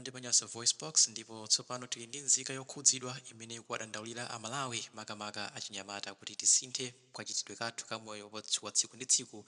ndi pa Nyasa VoiceBox, ndipo tsopano tili ndi nzika yokhudzidwa imene ikuwadandaulira a Malawi makamaka achinyamata kuti tisinthe kachitidwe kathu ka moyo wathu wa tsiku ndi tsiku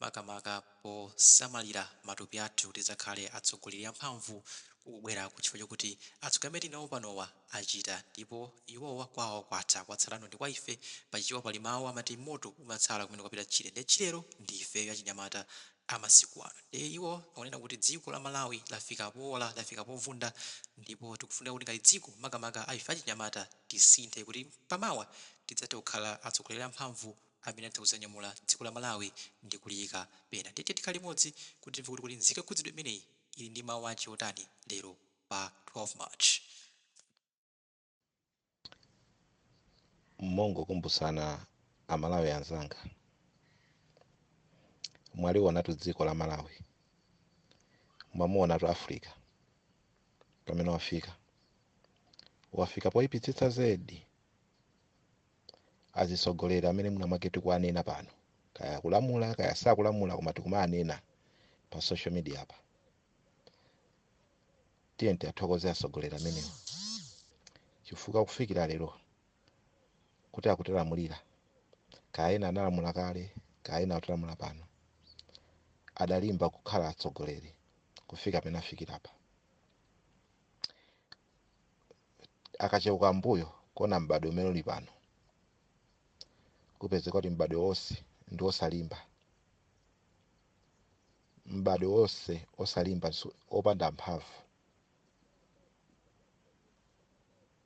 makamaka posamalira matupi athu kuti tidzakhale atsogoleri amphamvu kukubweraku chifukwa chokuti atsogoleri amene tili nawo panowa achita ndipo iwowa kwawo kwatha kwatsalano ndi kwa ife. Pa Chichewa pali mawu amati moto umatsala kumene kwapita tchire ndiye tchirelo ndi ifeyo achinyamata a masiku ano ndiye iwo akunena kuti dziko la Malawi lafika poola, lafika povunda ndipo tikufunika kuti ngati dziko makamaka a ife achinyamata tisinthe kuti pa mawa tidzathe kukhala atsogoleri a mphamvu amene atha kudzanyamula dziko la Malawi ndi kuliyika pena ndiye tiyeni tikhale limodzi kuti timve kuti kodi nzika yokhudzidwa imeneyi ili ndi mawu ache otani lero pa 12 March. mongokumbutsana amalawi anzanga mwaliwonatu dziko la malawi mwamuwonatu africa pamene wafika wafika poyipitsitsa zedi azitsogoleri amene mwina mwake tikuwanena pano kaya kulamula kaya sakulamula koma tikumaanena pa social media apa tiyeni tiathokoze atsogoleri amenewo chifukwa kufikira lero kuti akutilamulira kaya ena analamula kale kaya ena akutilamula pano adalimba kukhala atsogoleri kufika pamene afikira apa akacheuka mbuyo kuona m'badwo umene uli pano kupezeka kuti m'badwo wonse ndi wosalimba m'badwo wonse osalimba opanda mphamvu,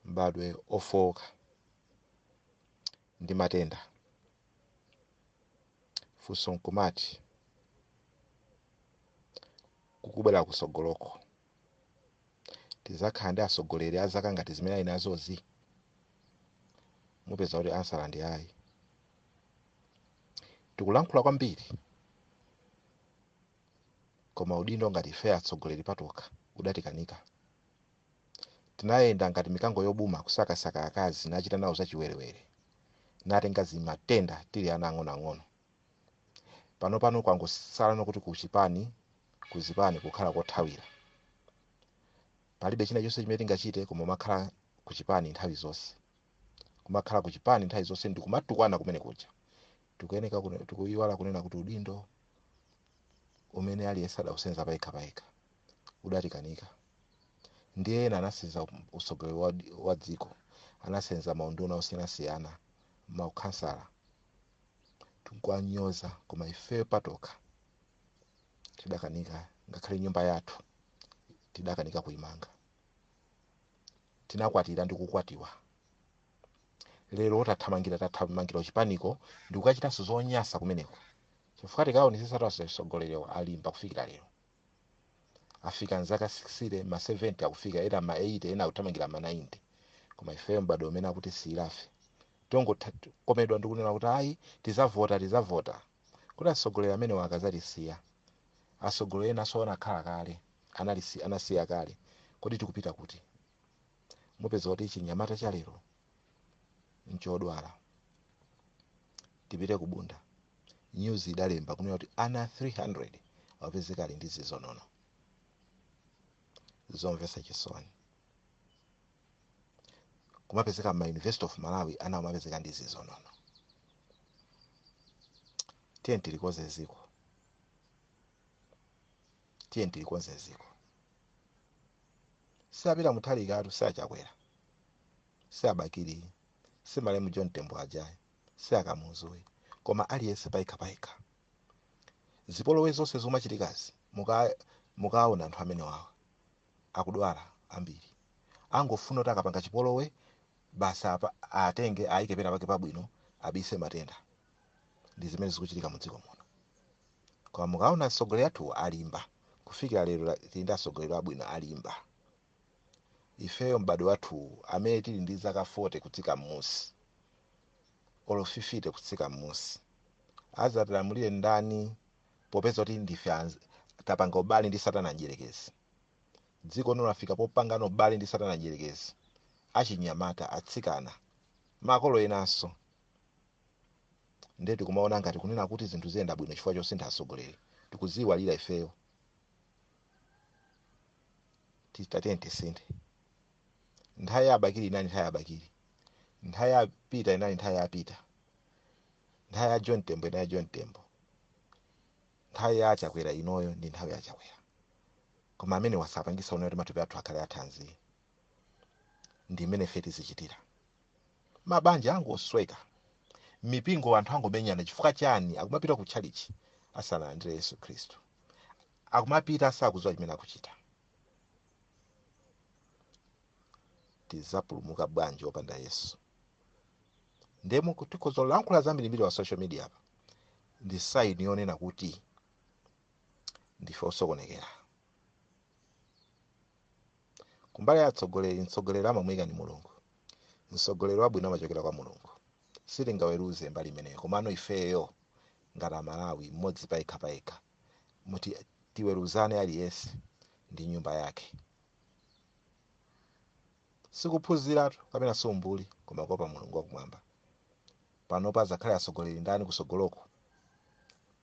m'badwo ofooka ndi matenda. Funso nkumati, kukubwera kusogoloko. tizakhala ndi asogoleri azaka ngati zimene ali nazozi mupeza kuti ansala ndi ayi tikulankhula kwambiri koma udindo ngati ife atsogoleri patokha udatikanika tinayenda ngati mikango yobuma kusakasaka akazi nachita nawo zachiwerewere natenga zimatenda tili ana ang'onoang'ono panopano kwangosalano kuti kuzipani kuzipani kukhala kothawira palibe china chonse chimene tingachite koma umakhala kuchipani nthawi zonse kumakhala kuchipani nthawi zonse ndikumatukwana kumene kuja tikuyeneka kune- tikuyiwala kunena kuti udindo umene aliyense adausenza payekha payekha udatikanika ndiye ena anasenza utsogoleri wa, wa dziko anasenza maunduna osiyanasiyana maukhansala tikuwanyoza koma ifeyo patokha tidakanika ngakhale nyumba yathu tidakanika kuimanga tinakwatira ndi kukwatiwa lero tathamangira tathamangira uchipaniko ndikukachitanso zonyasa kumeneko chifukwa tikaonetsetsa tonse atsogoleriwo alimba kufikira lero afika mzaka 60 ma 70 akufika ena ma 80 ena akuthamangira ma 90 koma ifeyo m'bado umene akuti siilafe tikungokomedwa ndikunena kuti ayi tizavota tizavota kuti atsogoleri amenewa akazatisiya atsogoleri enanso anakhala kale anasi- anasiya kale kodi tikupita kuti mupeza kuti chinyamata cha lero nchodwala tipite ku bunda nyuzi idalemba kunena kuti ana 300 awapeza ali ndi zizonono zomvesa chisoni kumapezeka mma university of malawi ana kumapezeka ndi zizonono tiye tilikonze ziko tiye tilikonze ziko si apeter muthalikatu si achakwera si abakili si malemu john tembo aja ayi si akamuzu ayi koma aliyense payekha payekha zipolowe zonse zomachitikazi muka- mukaona anthu amene awawa akudwala ambiri angofuna kuti akapanga chipolowe basi apa atenge ayike pena pake pabwino abise matenda ndi zimene zikuchitika mu dziko muno koma mukaona atsogoleri athu alimba kufikira lero la- tili ndi atsogoleri abwino alimba ifeyo m'bado wathuwu amene tili ndi zaka 40 kutsika m'musi olo 50 kutsika m'musi azatilamulire ndani popeza kuti ndife anz- tapanga ubale ndi satana mdyerekezi dziko lino lafika popangana ubale ndi satana mdyerekezi achinyamata atsikana makolo enanso nde tikumaona ngati kunena kuti zinthu ziyenda bwino chifukwa chosintha atsogoleri tikuziiwalira ifeyo Ti- tatiyeni tisinthe nthawi ya abakiri inali nthawi ya abakiri nthawi ya peter inali nthawi ya peter nthawi ya john tembo inali ya john tembo nthawi ya chakwera inoyi ndi nthawi ya chakwera koma amene azapangisa unoyo kuti matupi athu akhale athanzi ndi mmene ife tizichitira mabanja angosweka mipingo anthu angomenyana chifukwa chani akumapita ku tchalichi asanalandire yesu khristu akumapita osadziwa chimene akuchita tizapulumuka bwanji opanda yesu ndiyeno tikhoza kulankhula zambirimbiri pa social media apa ndi saini yonena kuti ndife osokonekera kumbali ya atsogoleri mtsogoleri amamuyika ndi mulungu mtsogoleri wabwino amachokera kwa mulungu sitingaweruze mbali imeneyo komano ifeyo ngati amalawi mmodzi payekha payekha muti tiweruzeni aliyense ndi nyumba yake sikuphunziratu kapena si umbuli koma kuopa mulungu wakumwamba panopa azakhale atsogoleri ndani kutsogoloko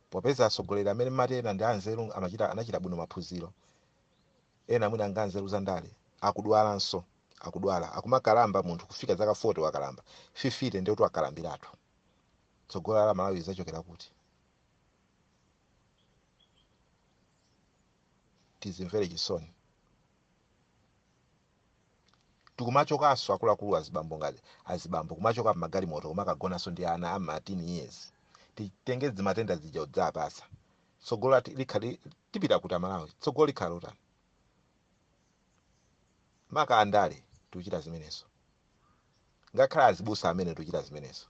popeza atsogoleri amene timati ena ndi anzeru amachita anachita bwino maphunziro ena mwina ngakhale anzeru za ndale akudwalanso akudwala akumakalamba munthu kufika zaka 40 wakalamba 50 ndikuti wakalambiratu tsogolo la malawi lidzachokera kuti tizimvere chisoni tikumachokanso akuluakulu azibambo ngati azibambo kumachoka mmagalimoto kumakagonanso ndi ana a ma 13 years titenge matenda aja kudzawapatsa tsogolo lati- likhale tipita kuti amalawi tsogolo likhala lotani maka andale tikuchita zimenezo ngakhale azibusa amene tikuchita zimenezo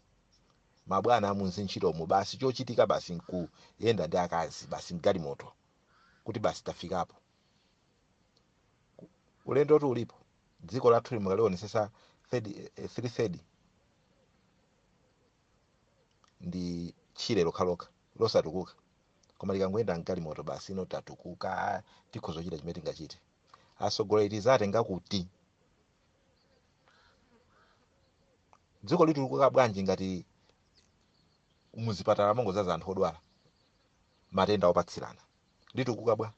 mabwana amu zintchitomo basi chochitika basi nkuyenda ndi akazi basi mgalimoto kuti basi tafikapo ulendotu ulipo dziko lathu mukalionesesa three third ndi tchire lokhalokha losatukuka koma tikangoyenda mgalimoto basi ino tatukuka tikhoza kuchita chimene tingachite atsogoleri tizawatenga kuti dziko litukuka bwanji ngati muzipatala mongozaza anthu odwala matenda opatsirana litukuka bwa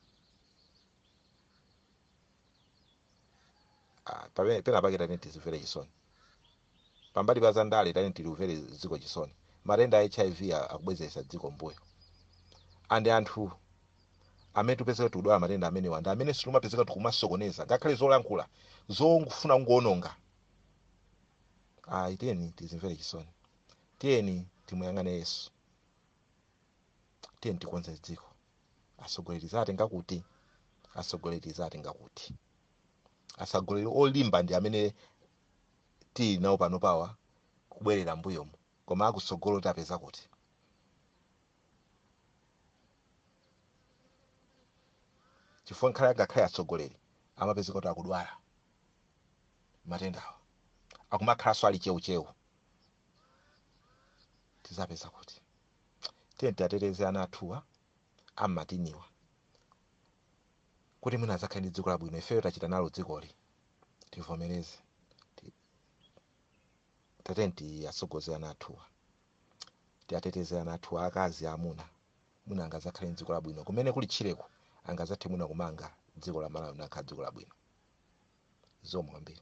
Ah, pabe- pena pake tatiyeni tizimvere chisoni pambali pa zandale tatiyeni tilimvere dziko chisoni matenda a hiv a- akubwezeresa dziko mbuyo and anthu amene tikupezeka tikudwala matenda amenewa ndi amene timapezeka tikumasokoneza ngakhale zolankhula zongofuna kungoononga ayi tiyeni tizimvere chisoni tiyeni timuyang'ane yesu tiyeni tikonze dziko atsogoleri tizawatenga kuti atsogoleri tizawatenga kuti atsogoleri olimba ndi amene tili nawo panopawa kubwerera mbuyomu koma akutsogolo tiwapeza kuti chifukwa ngakhale angakhale atsogoleri amapezeka kuti akudwala matendawo akumakhalanso ali cheucheu tizapeza kuti tiyeni tiateteze ana athuwa ammatiniwa kuti mwina adzakhale ndi dziko labwino ifeyo tachita nalo dzikoli tivomereze Ti- tiyeni tiatsogoze ana athuwa tiateteze ana athu aakazi amuna mwina angazakhale ndi dziko labwino kumene kuli tchireko angazathe mwina kumanga dziko la malawi nakhala dziko labwino zikomo kwambiri